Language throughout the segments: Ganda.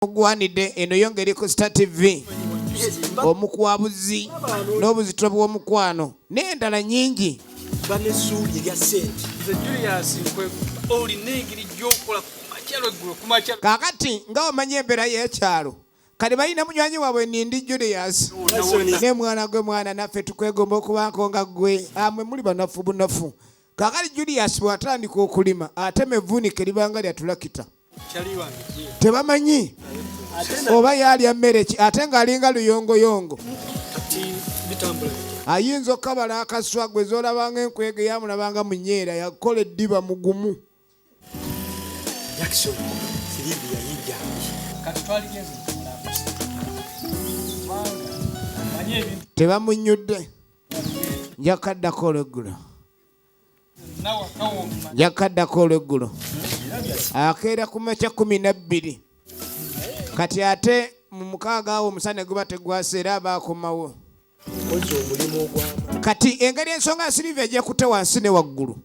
ogwanidde eno yo ngeri ku star tv omukwabuzi n'obuzito bw'omukwano n'endala nyingi banesuubi erya sente nze julius nkwe olina engeri gyokola kumakyalo eggulo kumakyalo kakati nga omanya embeera y'ekyalo kati balina munywanyi waabwe nindi julius ne mwana gwe mwana naffe tukwegomba okubaako nga gwe amwe ah, muli banafu bunafu kakati julius bw'atandika okulima ate mevuunike libanga lyatulakita tebamanyi oba yaalya mmere ki ate ng'alinga luyongoyongo ayinza okukabala akaswa gwe zolabanga enkwege yamulabanga munyeera yakola eddiba mugumu tebamunyudde njakaddakolegula yakaddako olweggulo akeera ku makya kumi nabbiri kati ate mu mukaaga awo omusana guba tegwasa era aba akomawo kati engeri ensonga ya siriva ejja kutte wansi ne waggulu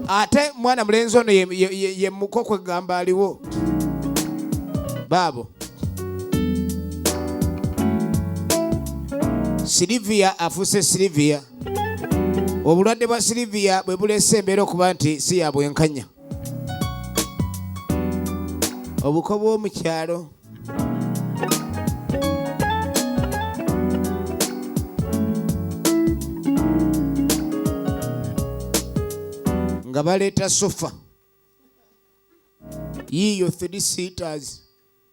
ate mwana mulenzi ono yemuko kwegamba aliwo baabo siriviya afuuse siriviya obulwadde bwa siliviya bwe buleese embeera okuba nti si ya bwenkanya obuko bw'omu kyalo nga baleeta sofa yiiyo three seaters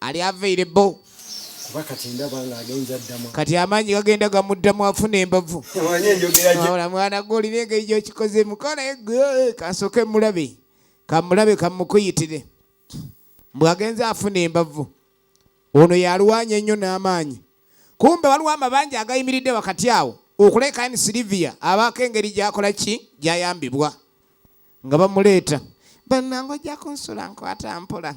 ali available kuba kati ndaba nga agenza ddamu kati amaanyi gagenda gamuddamu afuna embavu wabula mwana gwe olina engeri gyokikoze mukola eh, kasooke mulabe kamulabe kamukuyitire mbu agenza afuna embavu ono yalwanya ennyo n'amaanyi kumbe waliwo amabanja agayimiridde wakati awo okulekaani silivia abaako engeri gyakola ki gyayambibwa nga bamuleeta bannange ojja kunsula nkwata mpola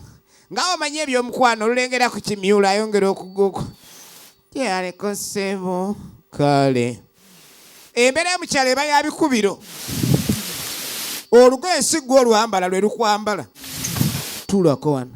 nga omanyi ebyomukwano olulengera ku kimyulo ayongera okuguku gyeyaleko ssebo kale embeera yomukyalo eba ya bikubiro olugoye si gwe olwambala lwe lukwambala tulako wano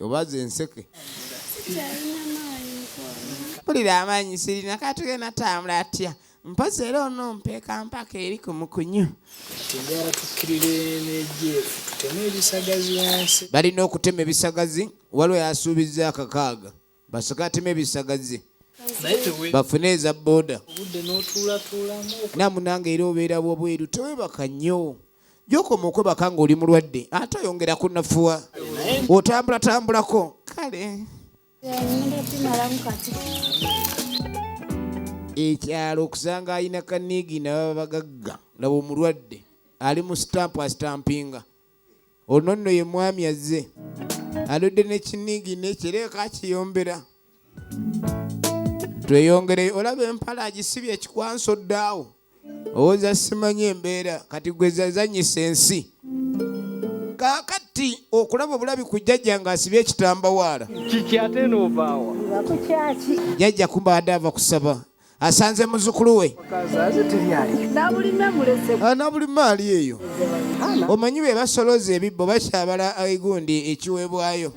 obaza enseke mpulira amaanyi sirina katugenda tambula atya mpozi era ono mpeeka mpaka eri ku mukunyu balina okutema ebisagazi waliwo yasuubizza akakaaga basooke atema ebisagazi bafune eza boda namunange era obeera wabweru tewebaka nnyo gyokoma okwebaka nga oli mulwadde ate oyongera kunafuwa otambulatambulako kale ekyalo okusanga alina kanigi nababa bagagga laba omulwadde ali mu sitampu asitampinga ono nno ye mwami azze aludde nekinigi nekireeka akiyombera tweyongereyo olaba empala agisibye ekikwanso ddaawo owoza simanyi embeera kati gwezazanyisa ensi kakati okulaba obulabi ku jjajja nga asibye ekitambawaala jjajja kumbaade ava kusaba asanze muzukulu we nabulime ah, ali eyo omanyi be basoloza ebibbo bakyabala egundi ekiweebwayo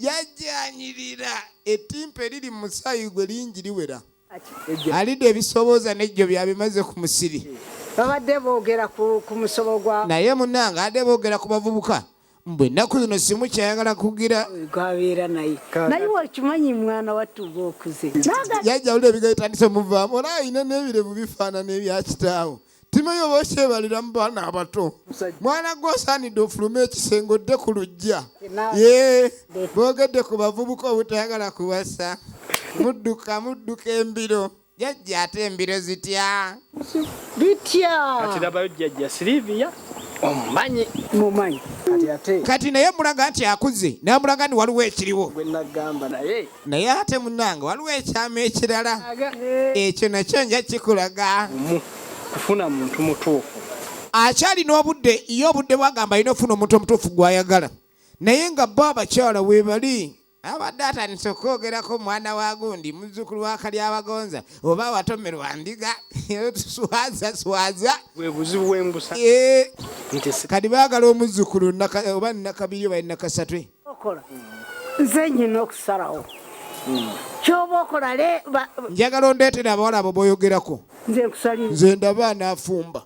yajanyirira etimpa eriri mu musaayi gwe lingi liwera alidde ebisobooza nejjo byabimaze ku musiri babadde boogera ku musobo gwa naye munange adde boogera ku bavubuka mbu ennaku zino simu kyayagala kugira gwabeera naye naye wakimanyi mwana wattuba okuze yajja wulira ebigaitandise muvaamu olaba alina n'ebirevu bifaanana ebya kitaawo timeyi oba okyebaliramu baana abato mwana gwe osaanidde ofulume ekisenge odde ku lujja ye boogedde ku bavubuka obutayagala kuwasa mudduka mudduka embiro jajja ate embiro zitya bitya ati labayo jajja silivia omumanyi mumanyi kati naye mulaga nti akuze namulaga ni waliwo ekiriwo naye ate munange waliwo ekyama ekirala ekyo nakyo nja kikulaga kufuna muntu mutuufu akyalina obudde ye obudde bwagamba alina okufuna omuntu omutuufu gwayagala naye nga bo abakyala webali abadde atandise okwogerako omwana wa gundi muzukulu wakali abagonza oba watomerwa ndiga tuswaza swaza webuzibu bwembusa kati bagala omuzukulu oba nakabiri oba nakasatwe okola nze nyina okusalawo hmm. kyoba okola le njagala ondeetera abawala abo boyogerako nze ndaba anafumba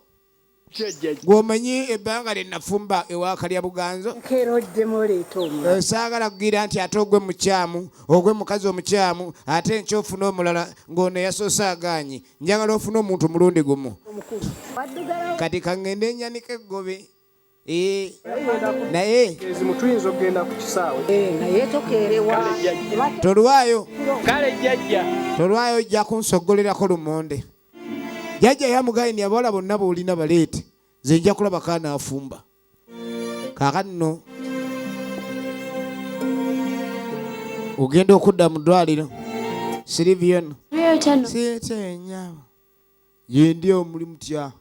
gwomanyi ebbanga lyenafumba ewakalya buganzo eh, saagala kugira nti ate ogwe mukyamu ogwe mukazi omukyamu ate nkyo ofuna omulala ng'ono yasoose agaanyi njagala ofuna omuntu mulundi gumu kati kangende enyanika eggobe Eh, naye ezimutuyinza okugenda ku kisaawe eh, naye tokeerewa tolwayo kale jjajja tolwayo ojja kunsogolerako lumonde jjajja yamugayini abawala bonna boolina baleete nze nja kulaba kaana afumba kakanno ogenda okudda mu ddwaliro siriviyono sieteenyabo yendi omuli mutya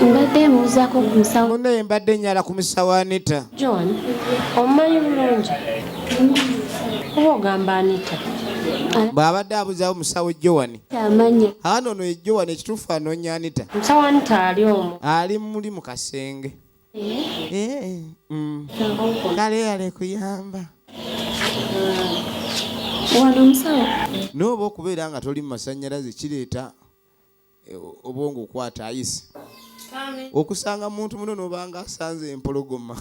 mbadde mbuuzako ku musawo muno ye mbadde nyala ku musawo anita john omumanyi bulungi kuba ogamba anita bw'abadde abuzawo musawo jowani aana ono ye jowani ekituufu anoonya anita ali muli mu kasenge Eh, mm. kale yale kuyamba wano omusawo nooba okubeera nga toli mu masannyalaze kireeta eh, obwongo okwata ayisi okusanga muntu muno nobanga asanze empologoma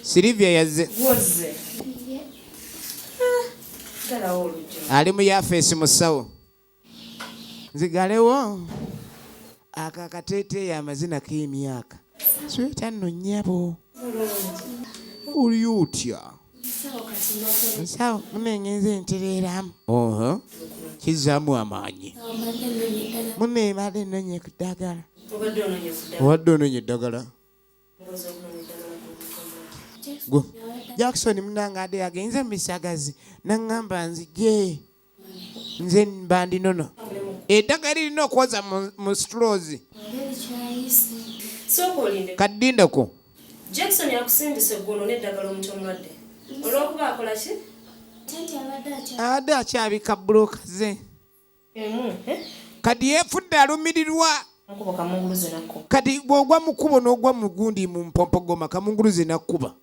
silivia yazze ah, ali mu yafeesi musawo nzigalewo ako akateeteeyi amazina k'emyaka sweta nno nnyabo oli otya nsawo munengenza entereeramu kizzaamu amaanyi mune ebadde ennonye ku ddagala obadde ononye eddagala jackson munange ade yagenze mu bisagazi naŋŋamba nzije nze mbandi nono eddagala lirina okwoza mu strozi kaddindeko jackson yakusindise guno neddagala omuti omulwadde olwokuba akola ki abadde akyabika buloka ze eh? kati yefudde alumirirwa kati bwogwa mukubo nogwa mugundi mumpompogoma kamunguluze nakkuba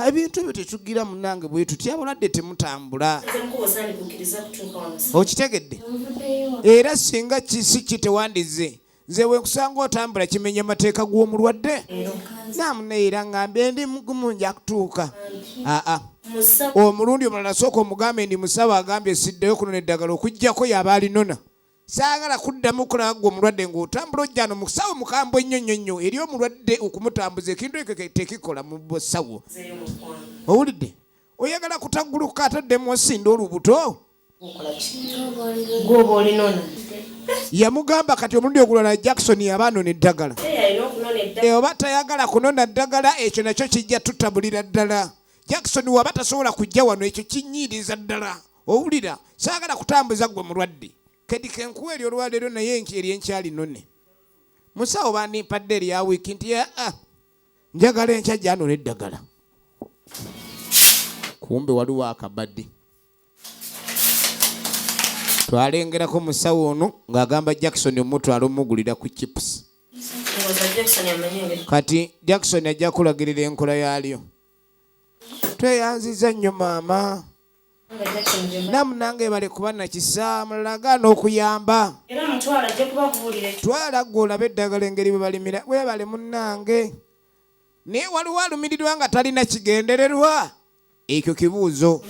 ebintu ebyo tetugira munange bwe tutya abalwadde temutambula okitegedde era singa kisi ki tewandize nze wekusanga otambula kimenya amateeka g'omulwadde namuneera ngambe ndi mugumu nja kutuuka aa omulundi omulala sooka omugambe ndi musaba agambye siddeyo kunona eddagala okuggyako yaba alinona saagala kuddamu kulaba gwe omulwadde ng'otambula ojjano mu kusawo mukambwe nnyo nnyo nnyo eri omulwadde okumutambuza ekintu ekyo tekikola mu busawo owulidde oyagala kutaguluka ataddemu osinda olubuto gwoba olinona yamugamba kati omulundi ogulala jackson yaba anona eddagala eh, oba tayagala kunona ddagala ekyo nakyo kijja tutabulira ddala jackson waba tasobola kujja wano ekyo kinyiiriza ddala owulira saagala kutambuza gwe mulwadde kedi kenkuwa eri olwaleero naye eri enkyali none musawo bandimpadde erya wiiki nti aa ah, njagala enkya gyanula eddagala kumbe waliwo akabadde twalengerako musawo ono ng'agamba jackson omutwala omugulira ku chips kati jackson ajja kulagirira enkola yaalyo tweyanziza nnyo maama namu nange bale kuba nakisa mulaga n'okuyamba twala gwe olabe eddagala engeri bwebalimira webale munange naye waliwo alumirirwa nga talina kigendererwa ekyo kibuuzo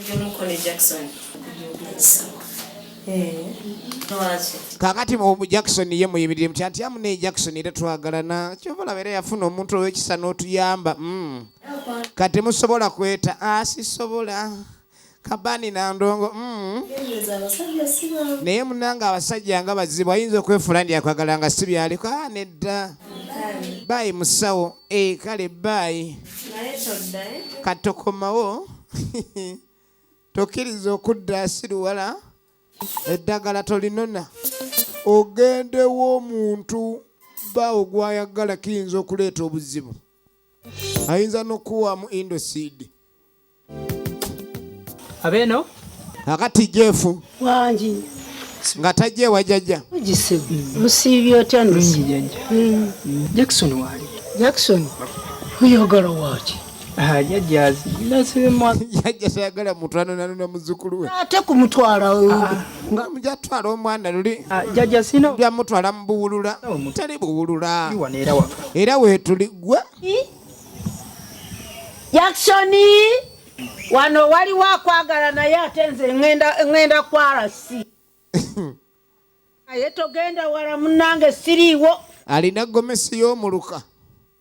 kakati mu jackson ye muyimirire mutya nti amunaye jackson era twagalana kyova olaba era yafuna omuntu owekisa n'otuyamba mm. kati musobola kweta asisobola ah, kabani na ndongo mm. naye munanga abasajja nga bazibu ayinza okwefula ndi akwagala nga si byaliko ah, nedda bayi musawo e kale bayi katokomawo tokkiriza okudda asiruwala eddagala tolinona ogendewo omuntu bawo gwayagala kiyinza okuleeta obuzibu ayinza nokuwamu indosid abeno akati jefu wangi nga tajja ewa jajja lusiibye otya ndosi jajja mm. jackson wali jackson oyagala waki ah, jajja tayagala mutwana nanona muzukulu we ate kumutwala ah. nga muja twala omwana luli ah, jaja sino bya mutwala mbuwulula tali buwulula era wetuli gwe yakshoni wano waliwo akwagala naye ate nze ŋenda kwarasi naye togenda wala munange siriiwo alina gomesi y'omuluka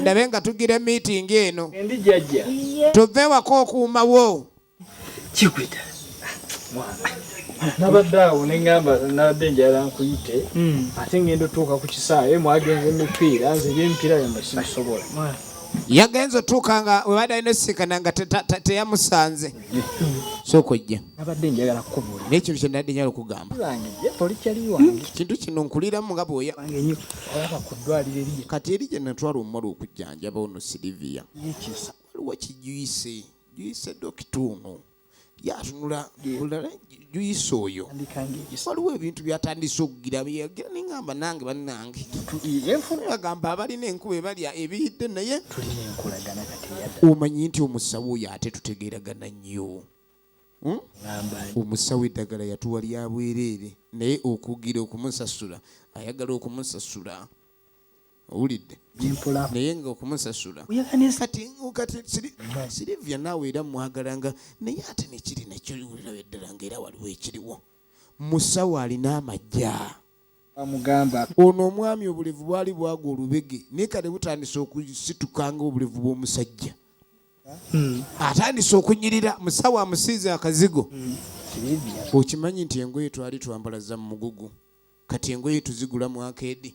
ndabe nga tugira meeting eno tuve ewaka okuumawo kikwita nabadde awo neŋamba nabadde njala nkuyite hmm. ate ngenda otuuka ku kisaawe mwagenza emipiira nze ebyemipiira byamwe sibisobola yagenze otuuka nga webadde alina osisikana nga teyamusanze sooka ojje nabadde njagala kukubuulira naye kintu kyenabadde njagala okugamba hmm, kintu kino nkuliramu nga bwoya kati eri gye natwala omumala okujjanjaba ono siriviya waliwo kijuyise juyise dokita ono yatunula juyisa oyo waliwo ebintu byatandise okugira byeyagira nengamba nange banange agamba abalina enkuba ebalya ebiyidde naye omanyi nti omusawo oyo ate tutegeragana nnyo hmm? omusawo eddagala yatuwa lya bwereere naye okugira okumusasula ayagala okumusasula owulidde naye nga okumusasula silivia naawe era mwagalanga naye ate nekiri nakyo olaba eddala nga era waliwo ekiriwo musawo alina amajja ono omwami obulevu bwali bwagwa olubege naye kale butandise okusitukanga obulevu bw'omusajja hmm. atandise okunyirira musawo amusiize akazigo hmm. okimanyi nti engoye twali twambala za mugugu kati engoye tuzigula mwaka edi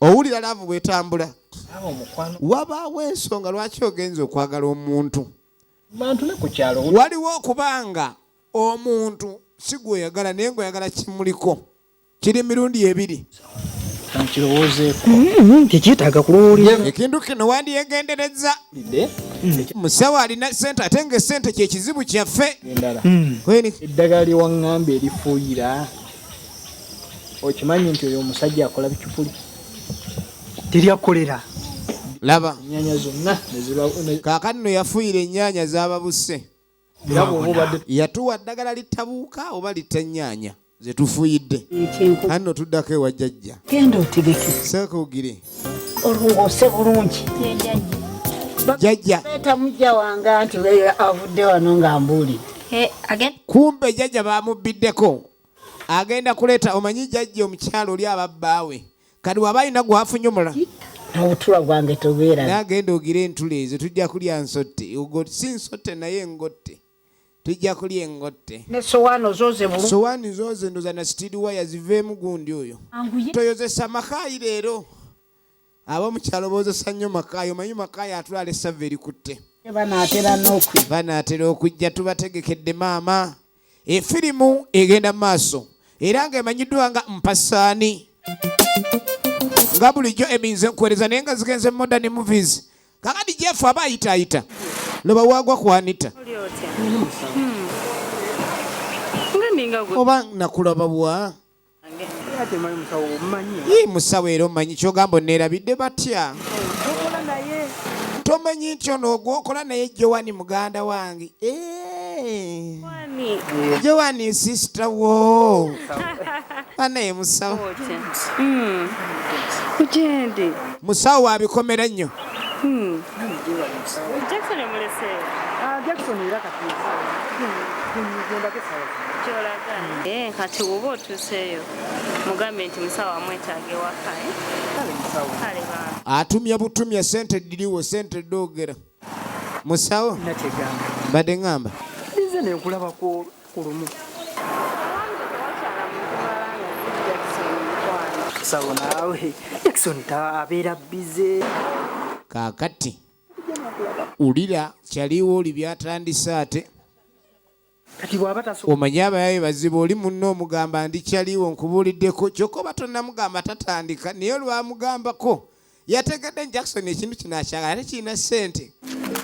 owulira laavu bwetambula wabaawo ensonga lwaki ogenza okwagala omuntu waliwo okubanga omuntu si gweoyagala naye ngaoyagala kimuliko kiri mirundi ebiri mm-hmm. tekyetaaga kulowooza ekintu kino wandyegendereza musawo alina sente ate nga esente kyekizibu kyaffe mm. eddagala lyewaŋŋamba erifuuyira okimanyi nti oyo omusajja akola bicupuli teri akolera laba enyanya zonna kakati no yafuyira enyanya zababuse yatuwa ddagala litabuuka oba litta enyanya zetufuyidde anno tuddako ewajjajja genda otegeke sekugire olungoose bulungi jajja beta mujja wange anti avudde wano nga mbuulidde eh, kumbe jajja bamubbiddeko agenda kuleeta omanyi jajja omukyalo oli ababbaawe kati waba alina gwafunyumula obutula bwange tobeera nagenda ogira entula ezo tujja kulya nsotte si nsotte naye ngotte tujja kulya engotte nesowaani ozooze bulu sowaani zooze ndoza na sitiri waya ziveemu gundi oyo toyozesa makaayi leero abamukyalo boozesa nnyo makaayi omanyi makaayi atwala essava erikutte banaatera okujja tubategekedde maama efirimu egenda mu maaso era nga emanyiddwa nga mpasaani nga bulijjo eminze nkuwereza naye nga zigenze modern movies kakati jefu aba ayitaayita loba wagwa ku anita oba nakulaba bwa yi musawo era omanyi kyogamba oneerabidde batya tomanyi nti ono ogwokola naye jowani muganda wange eh. Joani sister wo ana ye musawo hmm. kugyendi musawo wabikomera nnyo hmm. eh, kati woba otuseeyo mugambe nti musawo amwetaaga ewaka eh? atumya butumya sente diriwo sente dogera musawo mbadde ŋŋamba nze nenkulaba ku lumu sawo naawe jackson abeera bize kaakati ulira kyaliwo oli byatandise ate omanyi abayaye bazibu oli munno omugamba ndi kyaliwo nkubuuliddeko kyokka oba tonamugamba tatandika naye olwamugambako yategedde jackson ekintu kino akyagala ate kirina ssente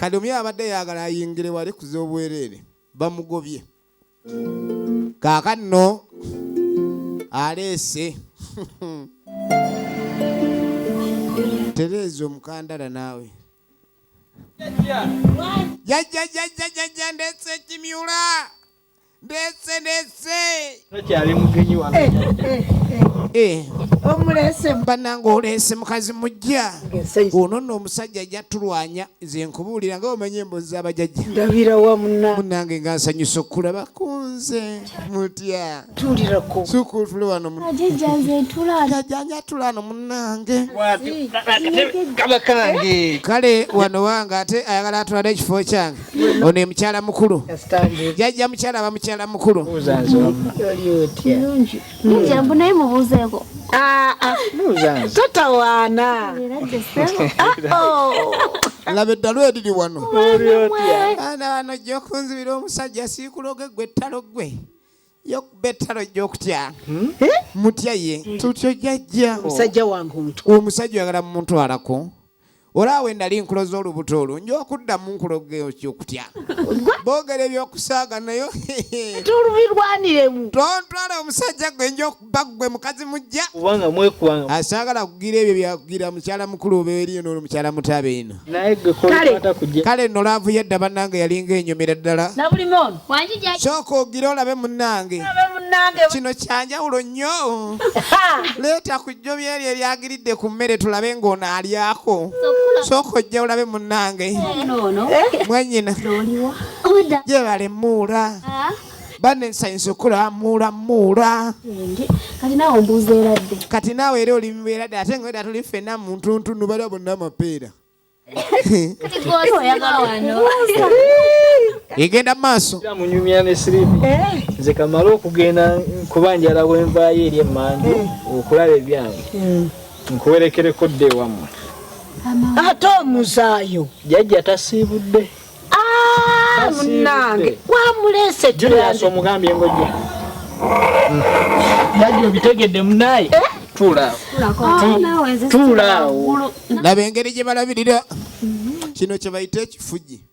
kati omuyaye abadde yagala ayingire wali kuza obwereere bamugobye kaaka nno aleese tereeza omukandala naawe jajja jajja jajja ndetse kimyula ndetse ndetse takyali mugenyi wa eh, eh, eh. omulese banange olese mukazi mujja ono no omusajja ajja tulwanya nze nkubuulira nga omanya embozi zabajajja ndabira wamuna munange nga nsanyusa okulaba kunze mutya tulirako sukulu wano jajanja tulano munange kaba kange kale wano wange ate ayagala atulade ekifo kyange ono emukyala mukulu jajja mukyala aba mukyala mukulu naye mubuuzeko ah, ah. totawaana laba eddalu eriri wano ana wano jja okunzibira omusajja siikuloge gwe ettalo gwe yokuba ettalo ojja okutya hmm? eh? mutya ye hmm. tutyo jajja omusajja wange omutw omusajja oyagala mumutwalako olaawe nali nkuloza olubuto olwo nja okuddamu nkulogeokyokutya boogera ebyokusaaga nayo tolubirwaniremu tontwala omusajja gwe nja baggwe mukazi mujja kubanga mwekwanga asagala kugira ebyo byakugira mukyala mukulu oba eriyo nono mukyala mutaba eno kale no laavu yadda bannange yalinga enyumira ddala sooka ogira olabe munnange kino kyanjawulo nnyo leeta ku jjo byeri ebyagiridde ku mmere tulabe ng'onaalyako sooka ojja olabe munnange eh? mwenyina gyebalemuula ah. banne nsanyusa okulamula muula kati naawe mbuuza eradde kati naawe era oli muberadde ate nga weda tuli ffenna muntuntunu bala bonna amapeera egenda maaso munyumya ne siripi eh. nze kamala okugenda kuba njala wenvaayo eri emmanju eh. okulaba ebyange eh. nkuwerekereko dde ewammwe ate omuzaayo jajja tasiibudde Ah, munange wamulese julius omugambye ngojja bajja obitegedde munaye eh? tuulaawo ah, laba engeri gye balabirira mhm. kino kye bayita ekifuji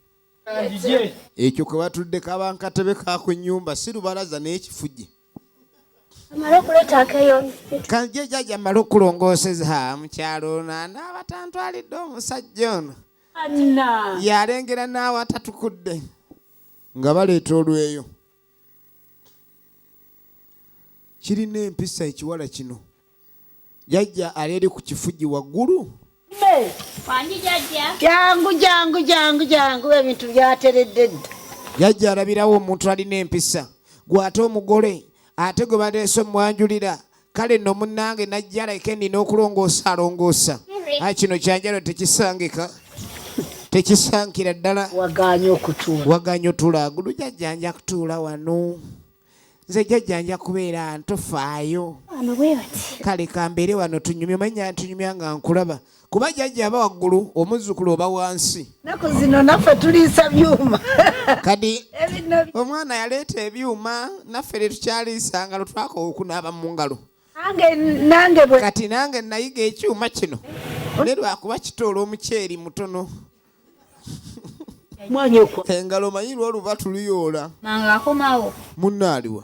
ekyo kwe batudde kaba nkatebe kaku nyumba si lubalaza naye ekifuji kanjejaja male okulongooseza mukyalo ono anaaba tantwalidde omusajja ono yalengera naawe atatukudde nga baleeta olweyo kirina empisa ekiwala kino jajja ali eri ku kifugi waggulu jangu jangu jangu jangu ebintu byateredde dda jajja alabirawo omuntu alina empisa gwate omugole ate gwe baleese omwanjulira kale nno munnange najja alaike nnina okulongoosa alongoosa a kino kyanjalo tekisangika tekisankira ddala waganye otula gulu jajjanja kutuula wano nze jajjanja kubeera ntofaayo kale kambeere wano tunyumya omanya ntunyumya nga nkulaba kuba jajja aba waggulu omuzzukulu oba wansi naku zino naffe tuliisa byuma kadi omwana yaleeta ebyuma naffe tetukyaliisa ngalo twakowa okunaaba mu ngalo kati nange nayiga ekyuma kino ne lwakuba kitoola omuceeri mutono engalo manyi lwoluba tuluyoola munnaaliwa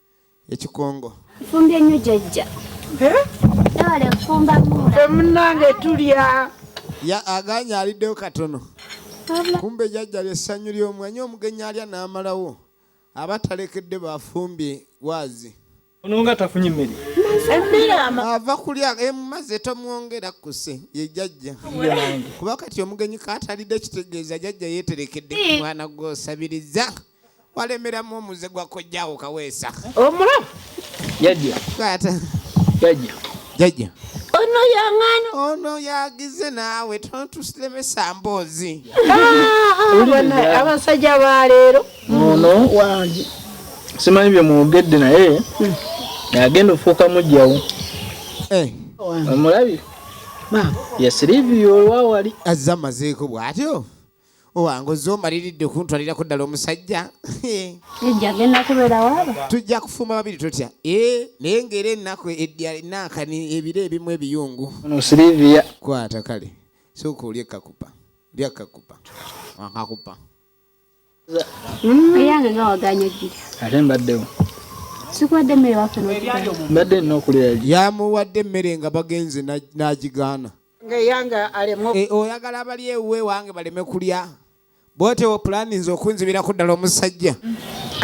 ekikongo nfumbye nnyo jajja nabale nfumba munange tulya ya aganya aliddeyo katono kumbe jajja lyessanyu ly'omwanyi omugenyi alya n'amalawo aba talekedde bafumbye waazi ono nga tafunye emmere emmere ava kulya emumaze eh, tomwongera kuse ye jajja kuba kati omugenyi katalidde kitegeeza jajja yeeterekedde omwana gwosabiriza walemeramu omuze gwa kojjaawo kaweesa omula jajja jajja ono yang'ano ono yagize naawe tontusilemesa mboozi ah, abasajja baleero ono wange simanyi bye mwogedde naye hmm. agenda ofuuka mujjawo eh. omulabi yasiriviyo olwawali azze amazeeko bw'atyo owange ozze omaliridde okuntwalirako ddala omusajja tujja kufuma babiri totya eh, naye ngaera ennaku enaakani ebiro ebimu ebiyungu kwata kale sooka olya ekakupa lya ekakupa akakupa eyange nga waganya ojjira ate mbaddewo sikuwadde emmere waffe mbadde nina okulya yamuwadde emmere nga bagenze n'agigaana Eh, oyagala abali ewuwe wange baleme kulya bwotewo pulaninze okunzibiraku ddala omusajja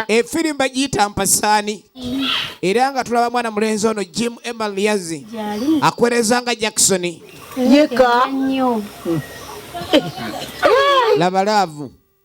efirimba eh, giyita mpasaani era nga tulaba mwana mulenzi ono jim emaliazi akwereza nga jackson yeka labalaavu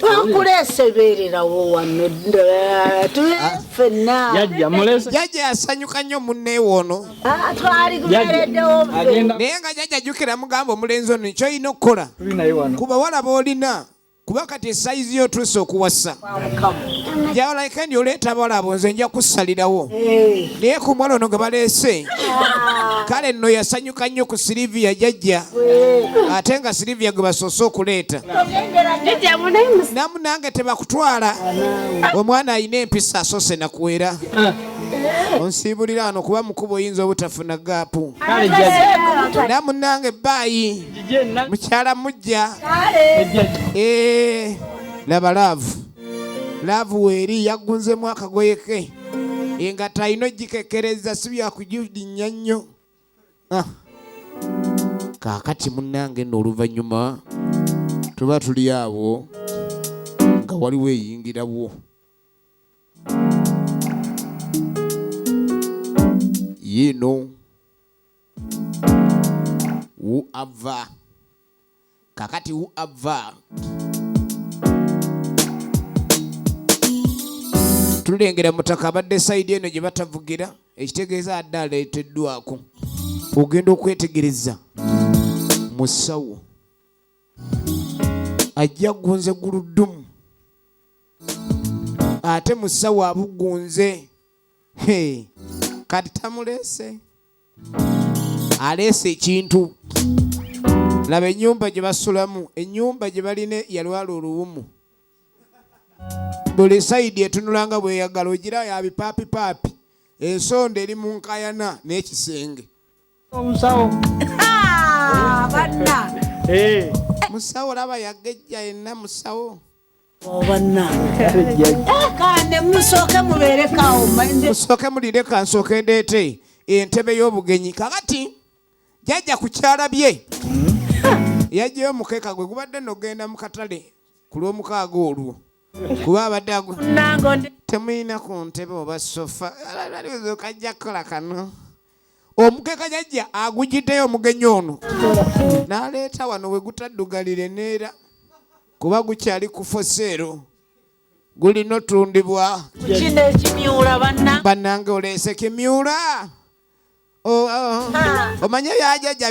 twakuleese beererawo wano fenna jajja yasanyuka nnyo munneewe ono ah, twali gubereddewo naye nga jajja jjukira mugamba omulenzi ono kyolina okukola kuba walaba olina kuba kati esayizi yo otuuse okuwasa jawalaikendi oleeta abawala abo nze nja kussalirawo eh. naye ku mwala ono gwe baleese ah. kale nno yasanyuka Kyoka nnyo ku Silivia jajja ate nga Silivia gwe basoose okuleeta namu nange tebakutwala omwana alina empisa asoose nakuwera onsiibulira ano kuba mukuba oyinza obutafuna gaapu na munange baayi mukyala mujja eh, laba laavu laavu weeri yaggunzemu akagoye ke engatta alina ogikekereza si byakujudinya nnyo ah. kaakati munnange nno oluvannyuma tuba tuli awo nga waliwo eyingirawo yiino wu ava kakati u ava tulengera mutaka abadde sayidi eno gye batavugira ekitegeeza adde aleeteddwako ogenda okwetegereza musawo ajja gunze guludumu ate musawo abugunze kati tamuleese aleese ekintu laba enyumba gye basulamu enyumba gye balina yalwala oluwumu buli sayidi etunulanga bweyagala ogira yabipaapipaapi ensonda eri mu nkayana n'ekisenge omusawo ah, banna eh. musawo laba yagejja yenna musawo musooke mulinde kansooke ndeete entebe y'obugenyi kakati jajja ku kyala bye hmm? yajjayo omukeeka gwe gubadde nogenda mu katale ku lw'omukaaga olwo kuba abadde agu temuyina ku ntebe oba sofa kajja kukola kano omukeka jajja agujiddeyo omugenyi ono n'aleeta wano we gutaddugalire neera kuba gukyali ku foseero gulina otundibwa kino ekimyula banna bannange oleese kimyula oh, oh. ah. omanye byajajja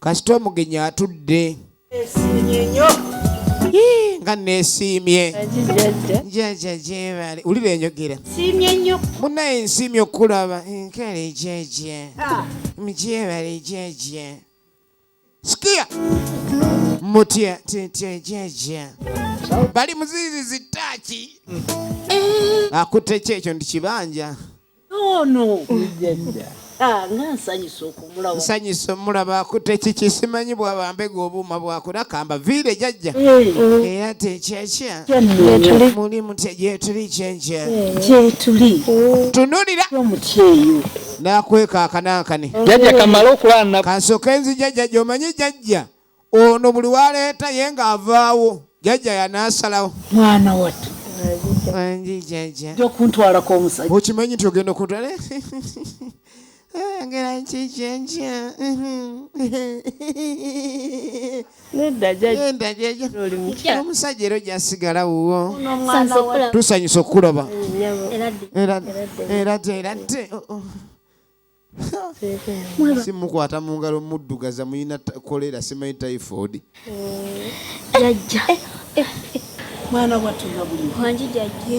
kasita omugenyi atudde nga nesiimye njaja gyebali wulira enjogera munaye nsiimye okukulaba nkale jeje mgyebali jeje sikia mutya titya jeje bali muzizi zitaki akutte ki ekyo nti kibanja ono ah, nga nsanyusa okumulaba nsanyusa omulaba akutte kiki simanyi bwaba mbega obuuma bwakula kamba viire jajja era tekyakya muli mutya gyetuli kyenkya gyetuli tunulira omutyeyo nakweka akanankani jajja kamala okulana kansoke nzi jajja gyomanyi jajja ono buli waleeta ye nga avaawo jajja yanasalawo mwana watu okuntwalako omusajja okimanyi nti ogenda okuntwala ngera nkikyekya omusajja era ojasigala wuwo tusanyusa okukulaba era te era te si mukwata mu ngalo muddugaza muyina kolera simanyi typhoid jajja mwana watula buli wangi jajja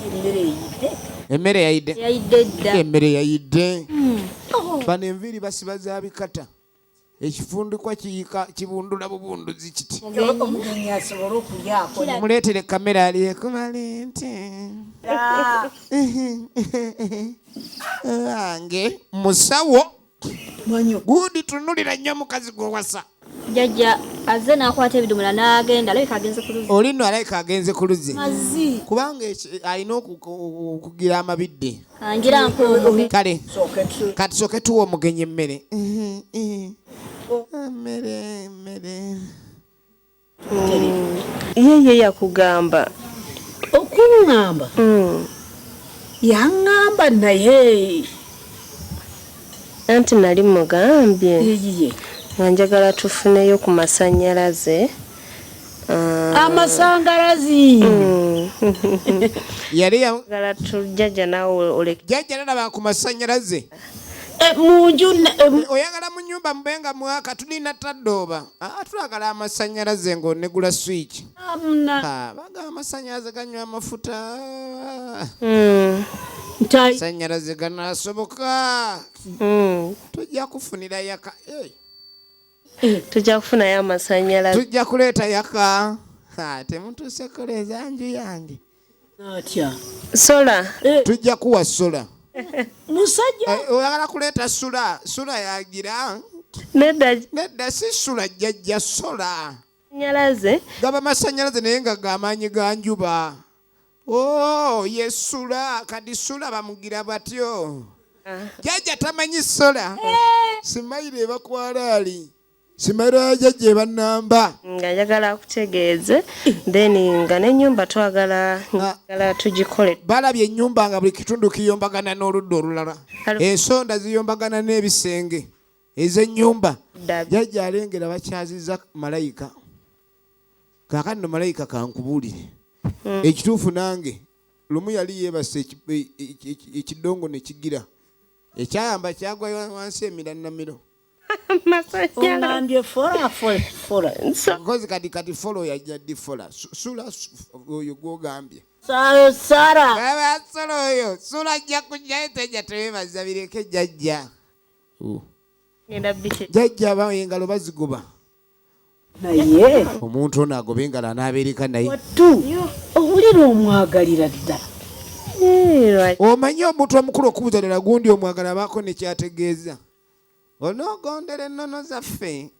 emmere eyidde emmere yayidde yayidde dda emmere yayidde hmm. oh. bano enviiri basiba za bikata ekifundikwa kiyika kibundula bubunduzi kiti omugenyi asobole okulyako muleetere kamera aliyekubalente wange musawo gundi tunulira nnyo mukazi gwewasa jajja azze nakwata ebidomola nagenda alabika agenze ku luzzi olino alabika agenze ku luzzi kubanga alina okugira amabidde kale kati soke tuwa omugenyi emmere emmere emmere yeye yakugamba okuŋŋamba mm. yaŋŋamba naye anti nali mugambye nga njagala tufuneyo ku masannyalaze Ah. amasangalazi mm. yali yagala tujjaja nawe oleke jjajja nalaba ku masanyalaze eh, munju eh, oyagala mu nyumba mube nga mwaka tulina tadooba ah, tulagala amasanyalaze ngaonegula swiki ah, baga amasanyalaze ganywa amafuta mm. sanyalaze ganasoboka mm. tujja kufunira yaka eh. Eh, tujja kufunayo amasanyalaze tujja kuleeta yaka temutuuse kuleeza nju yange atya sola eh. tujja kuwa sola musajja eh, oyagala kuleeta sula sula yagira nedda nedda si sula jjajja sola nyalaze gaba masanyalaze naye nga gamaanyi ga njuba Oh, yesula kadi sula bamugira batyo ah. jaja tamanyi sola eh. simayiro ebakwala ali simayiro ya jaja ebanamba nga yagala akutegeeze then nga nenyumba twagala ah. gala tugikole balabye enyumba nga buli kitundu kiyombagana n'oludda olulala ensonda ziyombagana n'ebisenge ezenyumba jaja alengera bakyaziza malayika kakati no malayika kankubuulire hmm. ekituufu nange lumu yali yeebase ekidongo e, e, e, nekigira ekyayamba kyagwa wansi emiranamiro kozi kati kati folo yajja di fola sula oyo gwogambye sala oyo sula ajja kujjayo teja tebebaza bireke jajja jajja bawo engalo bazigoba naye omuntu ono agobe engalo anaabeereka naye wattu owulira omwagalira ddala omanyi omuntu omukulu okubuza ddala gundi omwagala abaako nekyategeeza onoogondera ennono zaffe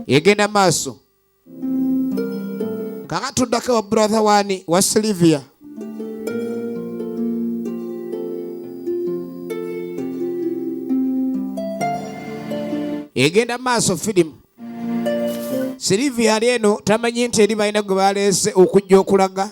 egenda maaso kaka tuddako wa brother wani wa silivia egenda maaso firimu silivia ali eno tamanyi nti eri balina gwe baleese okujja okulaga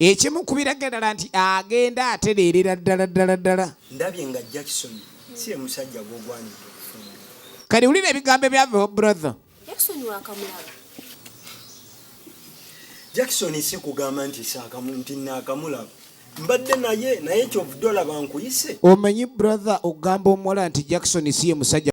ekimu ku biraga ddala nti agenda atereerera ddala ddala ddala ndabye nga jackson si ye musajja gwogwanidde okufumbira kati wulira ebigambo ebyava brother jackson wakamulaba jackson si kugamba nti saakamu nti naakamulaba mbadde naye naye kyovudde olaba nkuyise omanyi brother okugamba omuwala nti jackson si ye musajja